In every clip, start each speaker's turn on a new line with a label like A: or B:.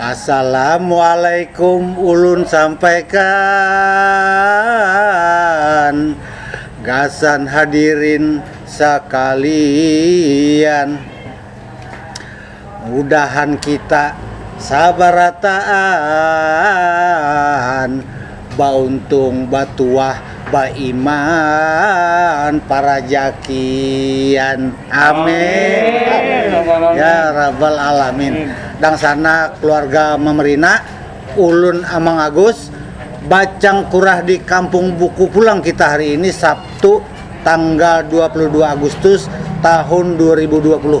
A: Assalamualaikum ulun sampaikan gasan hadirin sakalian. Mudahan kita sabarataan bauntung batuah baiman parajakian amin ya rabbal alamin dangsana keluarga mamerina ulun amang agus bacangkurah di kampung buku pulang kita hari ini sabtu tanggal dua puluh dua agustus tahun dua ribu dua puluh.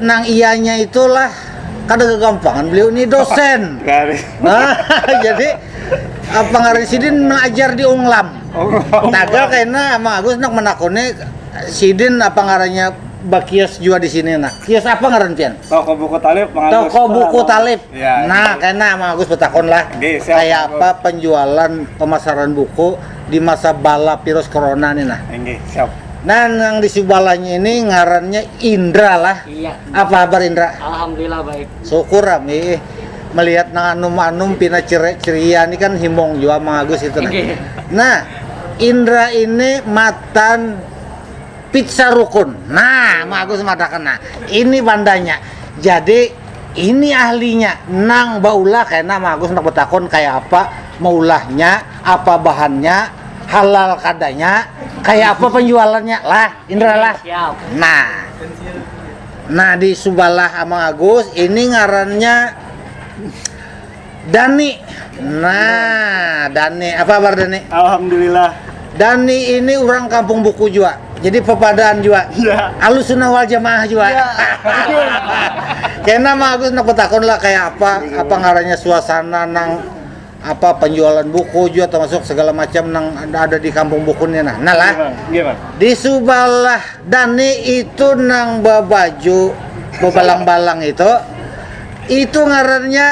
A: nang ianya itulah kada kegampangan beliau ini dosen. Nah, jadi uh, pengaruh sidin mengajar di Unglam. Tagal karena Mang Agus nak menakuni sidin apa ngarannya bakios juga di sini nah. Kios apa ngaran pian? Toko buku talib Mang Agus. Toko buku talib. Ya, nah, karena Mang Agus betakon lah. Kayak apa penjualan pemasaran buku di masa bala virus corona ni nah. Inggih, siap. Nah, nang di sebelahnya ini ngarannya Indra lah. Iya. Apa kabar Indra? Alhamdulillah baik. Syukur kami melihat nang anum-anum pina ceria ni kan himung jua mangagus itu nah. Nah, Indra ini matan pizza rukun. Nah, mangagus madakan nah. Ini bandanya. Jadi ini ahlinya nang baulah kena mangagus nak betakun kayak apa maulahnya apa bahannya halal kadanya kayak apa penjualannya lah Indra lah Siap. nah nah di subalah sama Agus ini ngarannya Dani nah Dani apa kabar Dani Alhamdulillah Dani ini orang kampung buku juga jadi pepadaan juga ya. alus sunnah wal jamaah juga ya. kena mah Agus nak lah kayak apa apa ngarannya suasana nang apa penjualan buku juga termasuk segala macam yang ada di kampung buku ini nah. Nah lah, iya, di sebelah Dani itu nang babaju bebalang-balang itu, itu ngarannya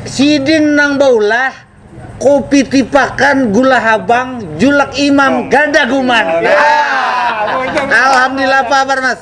A: sidin nang baulah kopi tipakan gula habang julak imam oh. gadaguman. Nah, alhamdulillah apa kabar mas?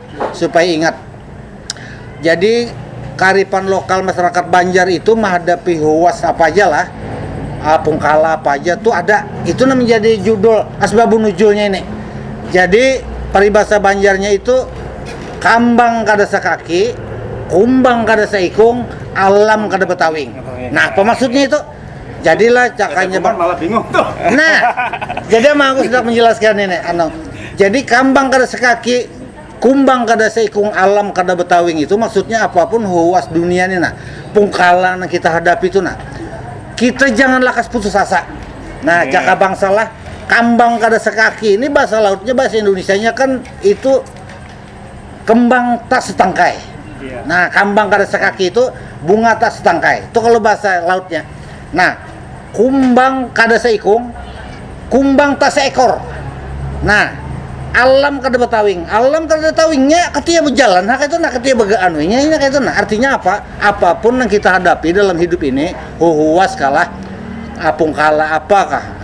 A: Supaya ingat. Jadi karifan lokal masyarakat Banjar itu menghadapi huas apa aja lah, ah, pungkala apa aja tuh ada. Itu nah menjadi judul asbabun nuzulnya ini. Jadi paribasa Banjarnya itu kambang kada sakaki, kumbang kada saikung, alam kada batawing. Nah apa maksudnya itu? Jadilah cakanya bang. malah bingung tuh. Nah, jadi emang aku sedang menjelaskan ini, anu. Jadi kambang kada sekaki, kumbang kada seikung, alam kada betawing itu maksudnya apapun huas dunia ini nah, pungkalang yang kita hadapi itu nah. Kita jangan lakas putus asa. Nah, yeah. cakap bangsalah kambang kada sekaki ini bahasa lautnya bahasa Indonesia-nya kan itu Kembang tak setangkai. Nah, kambang kada sakaki itu bunga tak setangkai. Itu kalau bahasa lautnya. Nah, kumbang kada saikung, kumbang tak seekor. Nah, alam kada batawing. Alam kada ada tawingnya, katiya bajalan ha kaytu nah, katiya baganunya inya kaytu nah. Artinya apa? Apapun nang kita hadapi dalam hidup ini, huhuwas kalah, apung kalah, apakah.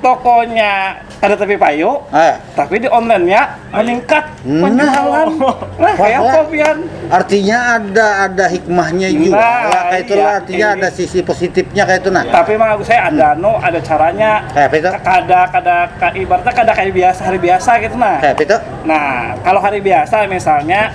A: tokonya kada tapi payu, eh. tapi di online-nya meningkat nah, penjualan. Nah, kayak apa pian? Artinya ada ada hikmahnya nah, juga. Nah, ya, kayak itulah iya, artinya iya. ada sisi positifnya kayak itu nah. Tapi mah saya ada hmm. no, ada caranya. Kayak itu. Kada kada ibaratnya kada kayak biasa hari biasa gitu nah. Kayak itu. Nah, kalau hari biasa misalnya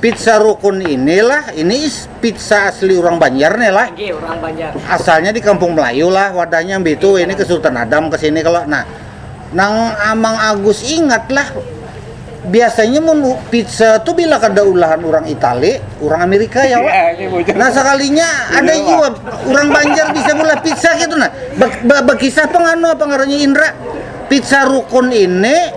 A: Pizza Rukun ini lah, ini is pizza asli urang Banjar nih lah. Oke, urang Banjar. Asalnya di Kampung Melayu lah wadahnya mbitu, ini ke Sultan Adam ke sini kalo. Nah, nang Amang Agus ingat lah, biasanya mun pizza tu bila kada ulahan urang Itali, urang Amirika ya wak. Nah, sakalinya ada jua urang Banjar bisa meulah pizza kaytu nah. Ba, ba, bakisah pang anu apa ngarannya Indra, Pizza Rukun ini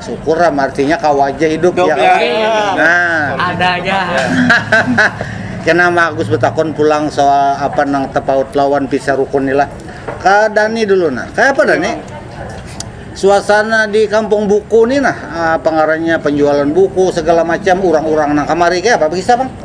A: Syukur am artinya kau aja hidup Hidup, ya. ya. Nah, Ada aja. kena Ma Agus betakon pulang soal apa nang tepaut lawan pisah rukun ni lah. Ka Dani dulu nah. Kaya apa Dani? Suasana di kampung buku ni nah, ah, apa ngarannya penjualan buku segala macam urang-urang nang kamari kaya apa bekisah Bang?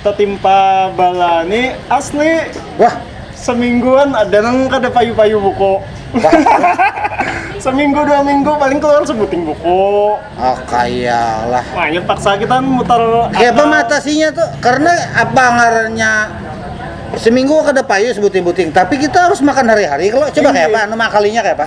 A: tetimpa bala ni asli Wah, semingguan ada nang kada payu-payu buku seminggu dua minggu paling keluar sebuting buku oh kayalah. makanya paksa kita mutar Kayak apa akal. mengatasinya tuh? Karena apa ngarannya seminggu kada payu sebuting-buting, tapi kita harus makan hari-hari kalau coba Iya. kayak apa? Anu mengakalinya kayak apa?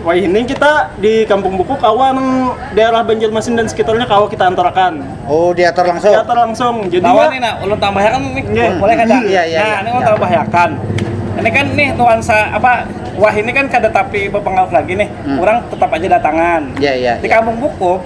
A: Wahini kita di Kampung Buku kawa nang daerah Banjarmasin dan sekitarnya kawa kita antarakan. Oh, diatur langsung. Diatur langsung. Jadi Lawan nih nak, ulun tambahakan nih. Nggih. Boleh kada? Iya, iya, iya. Nah, ini ulun tambahakan. Ini kan nih nuansa apa wahini kan kada tapi bapangaruh lagi nih. Urang tetap aja datangan. Iya, iya, Di iya. Kampung Buku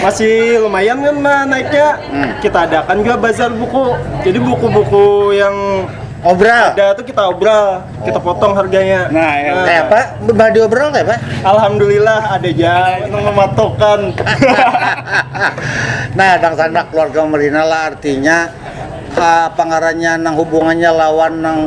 A: masih lumayan kan naiknya hmm. kita adakan juga bazar buku jadi buku-buku yang obral ada tuh kita obral oh. kita potong harganya nah, ya. nah kayak apa badi obral kayak apa alhamdulillah ada aja mematokan nah tang sandak keluarga merina lah artinya ha pangarannya nang hubungannya lawan nang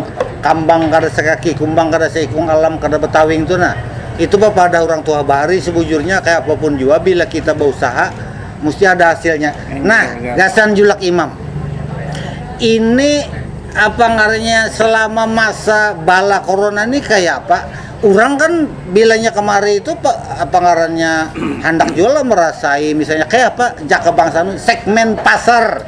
A: kambang kada sakaki kumbang kada saikung alam kada batawing tu nah itu bapadah urang tuha bahari sabujurnya kaya apa pun jua bila kita bausaha musti ada hasilnya nah gasan julak imam ini apa ngarannya selama masa bala korona ni kaya apa urang kan bilanya kamari tu apa ngarannya handak jua lah marasai misalnya kaya apa jaka bangsa segmen pasar.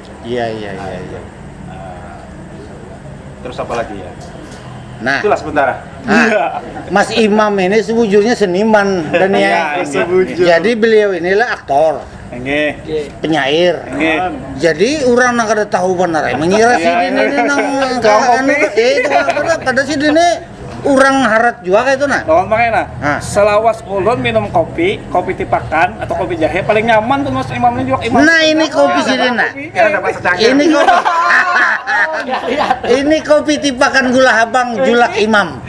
A: Iya iya iya nah, iya. Nah, terus apa lagi ya? Nah, itulah sementara. Nah, iya. Mas Imam ini sebujurnya seniman dan ya, ya jadi beliau inilah aktor. Nge. Penyair. Nge. Jadi orang nang kada tahu benar mengira si dini ini nang kawan itu apa pada si dini Urang harat jua kaya itu nah. Lawan pakai nah. Ha. Selawas ulun minum kopi, kopi tipakan atau kopi jahe paling nyaman tuh mas imam ini juga imam. Nah ini kopi sih nah. Ini kopi. ini kopi tipakan gula habang julak imam.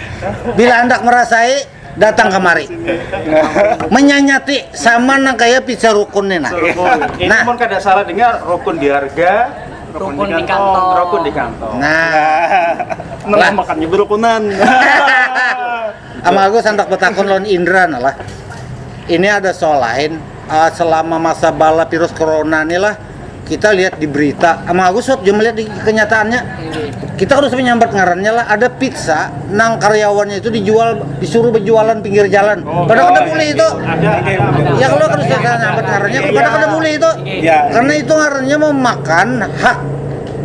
A: Bila hendak merasai datang kemari menyanyati sama nang kaya pizza rukun nih nah. Nah, kada salah dengar rukun di harga Rukun di kantong. Rukun di kantong. Nah. Nah, makannya berukunan. Ama aku santak betakun lawan Indra nah lah. Ini ada soal lain uh, selama masa bala virus corona nih lah kita lihat di berita ama aku sob juga melihat di kenyataannya kita harus menyambat ngarannya lah ada pizza nang karyawannya itu dijual disuruh berjualan pinggir jalan oh, pada kada boleh itu ada, ada, ada, ya kalau harus kita nyambat ngarannya pada kada boleh itu Ya. Karena itu ngarannya memakan hak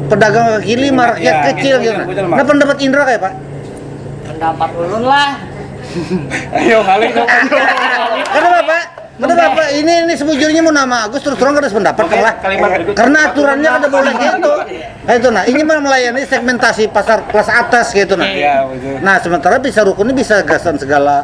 A: pedagang kaki lima, rakyat Ya, kecil betul, gitu. Nah, betul, Mak. Nah, pendapat Indra kayak apa? Pendapat ulun lah. Ayo ngalih dong. Kenapa Pak? Kenapa Pak? Ini ini sebujurnya mau nama Agus terus terang kada sependapat Oke, kan lah. kalimat berikutnya. Karena aturannya kada boleh gitu. Nah, itu nah, ini mah melayani segmentasi pasar kelas atas gitu nah. Iya, betul. Nah, sementara bisa rukun ini bisa gasan segala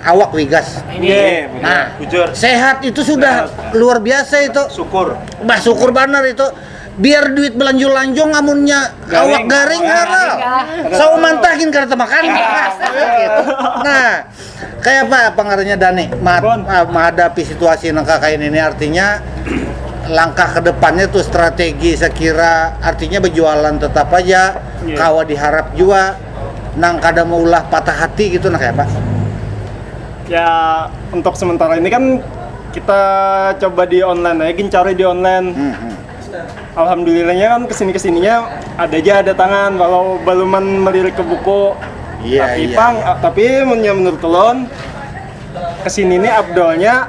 A: awak wigas. Iya, betul. Nah, Bujur. sehat itu sudah luar biasa itu. Syukur. Bah syukur banar itu. Biar duit belanjung-lanjung amunnya awak garing haral. Sawa mantahin kada temakan. Gitu. Nah, kayak apa pengaruhnya Dani ma- Bon. ah, menghadapi situasi nang kakain ini artinya langkah ke depannya tuh strategi sekira artinya berjualan tetap aja Iya. kawa diharap jua nang kada maulah patah hati gitu nah kaya apa? Ya untuk sementara ini kan kita coba di online aja gin cari di online. Hmm, hmm. Alhamdulillahnya kan kesini-kesininya ada aja ada tangan walau baluman melirik ke buku. Iya, tapi iya, pang, iya. tapi menurut ulun kesini ini abdolnya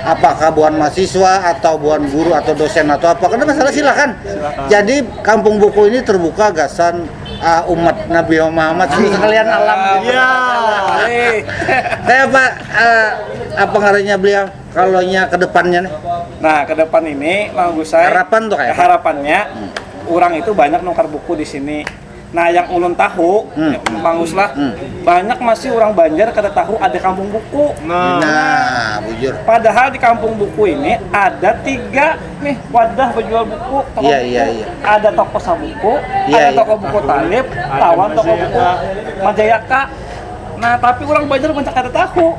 A: apakah buhan mahasiswa atau buhan guru atau dosen atau apa karena masalah silakan jadi kampung buku ini terbuka gasan uh, umat Nabi Muhammad sekalian alam ya kayak apa uh, apa ngarannya beliau kalau nya kedepannya nih nah ke depan ini mau saya harapan tuh kayak harapannya hmm. orang itu banyak nukar buku di sini Nah yang ulun tahu, hmm. Ya, Mang Us lah, hmm. banyak masih orang Banjar kada tahu ada kampung buku. Nah, nah bujur. Padahal di kampung buku ini ada tiga nih wadah penjual buku, toko yeah, buku. Yeah, yeah. Ada toko sabuku, yeah, ada iya. toko yeah. buku talib, tawan toko buku Majayaka. Nah tapi orang Banjar banyak kada tahu.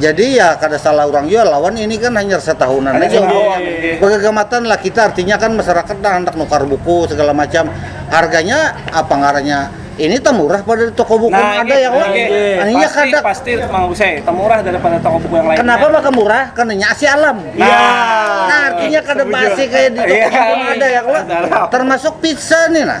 A: Jadi ya kada salah urang jua lawan ini kan hanyar satahunan aja umurnya. Bagagamatan lah kita artinya kan masyarakat nah handak nukar buku segala macam. Harganya apa ngarannya ini tamurah pada di toko buku nah, ada yang lain. Nah, iya kada pasti mau saya tamurah daripada toko buku yang lain. Kenapa maka murah? Karena nyasi alam. Nah, ya. nah artinya kada basi kayak di toko iya. buku ada yang lain. Termasuk pizza nih nah.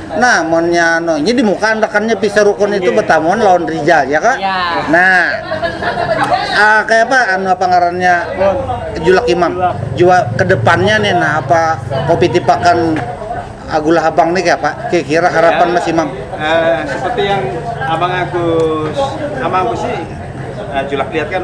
A: Nah, monnya no, ini di muka andakannya pisah rukun itu bertamuan lawan Rijal, ya kak? Ya. Nah, uh, kayak apa anu apa ngarannya Julak Imam? Jua kedepannya nih, nah apa kopi tipakan Agulah Abang nih kayak apa? Kira-kira harapan ya, Mas Imam? Uh, seperti yang Abang Agus, Abang Agus sih uh, Julak lihat kan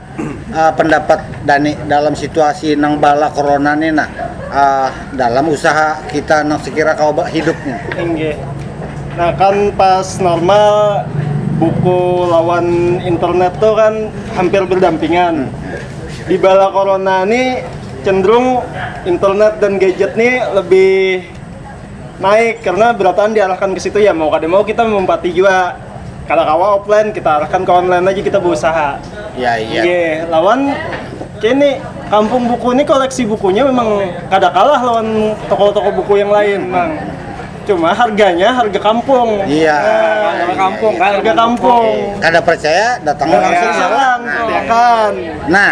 A: pendapat dani dalam situasi nang bala korona ni nah dalam usaha kita nang sekira kawa hidup ni inggih nah kan pas normal buku lawan internet tu kan hampir berdampingan di bala korona ni cenderung internet dan gadget ni lebih. naik karena berataan diarahkan ke situ ya mau kada mau kita melompati jua kada kawa offline kita arahkan ke online aja kita berusaha ya iya Ye, lawan kini kampung buku ini koleksi bukunya memang kada kalah lawan toko-toko buku yang lain memang cuma harganya harga kampung iya harga kampung kan harga kampung kada percaya datang langsung ya. serang Nah, kan nah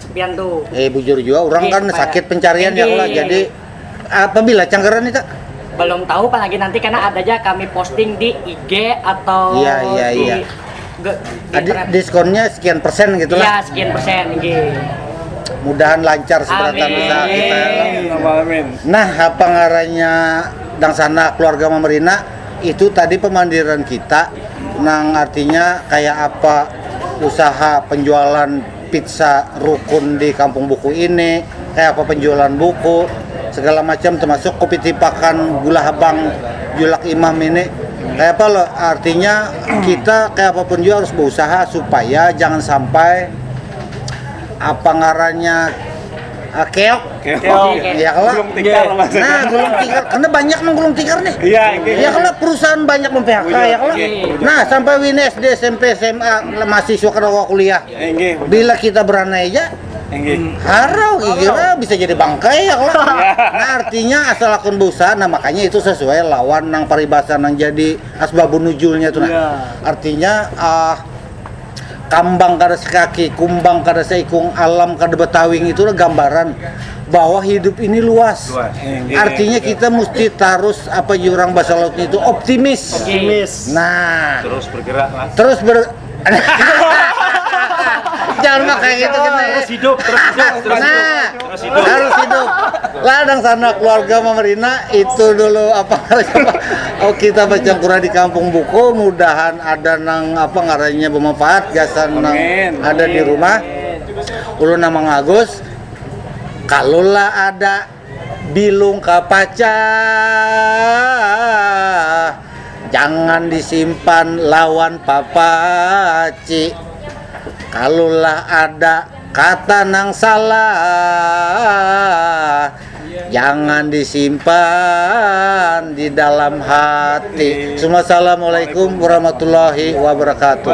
A: Eh bujur jua orang kan sakit pencarian ya Allah. Jadi apabila canggaran nih kak? Belum tahu kan lagi nanti karena ada aja kami posting di IG atau Iya, iya, di, iya. ge- di Adi, internet. diskonnya sekian persen gitu Iya, lah. sekian persen gitu. Mudahan lancar seberatan Amin. usaha kita. ya Allah. Allahumma amin. Nah, apa ngarannya dangsana keluarga Mamerina itu tadi pemandiran kita nang artinya kayak apa usaha penjualan pizza rukun di kampung buku ini, kaya apa penjualan buku, segala macam termasuk kopi tipakan gula habang julak imam ini kaya apa lo artinya kita kaya apa pun jua harus beusaha supaya jangan sampai apa ngarannya keok ya kalo nah gulung tikar karna banyak nang gulung tikar nih ya kalo perusahaan banyak mem-phk ya kalo nah sampai wini SD, SMP, sma, mahasiswa kada kawa kuliah. Bila kita beranai ja, harau kira bisa jadi bangkai lah. Nah artinya asa lakon bausaha, nah makanya itu sasuai lawan nang paribasa nang jadi asbabun nuzulnya tu nah. Artinya kambang kada sakaki, kumbang kada saikung, alam kada batawing itu gambaran bahwa hidup ini luas. Artinya kita musti tarus apa yu urang basa laut nya itu optimis. Nah, Terus bergerak lah. Terus ber Jangan pakai gitu kita. Gitu. Terus hidup, terus hidup, terus nah, hidup. Terus hidup. Harus hidup. Ladang sana keluarga memerina itu dulu apa Oh kita baca Quran di kampung buku mudahan ada nang apa ngaranya bermanfaat gasan nang ada di rumah. Ulun nama Agus. Kalau lah ada Bilung kapacah jangan disimpan lawan papaci kalulah ada kata nang salah jangan disimpan di dalam hati Assalamualaikum warahmatullahi wabarakatuh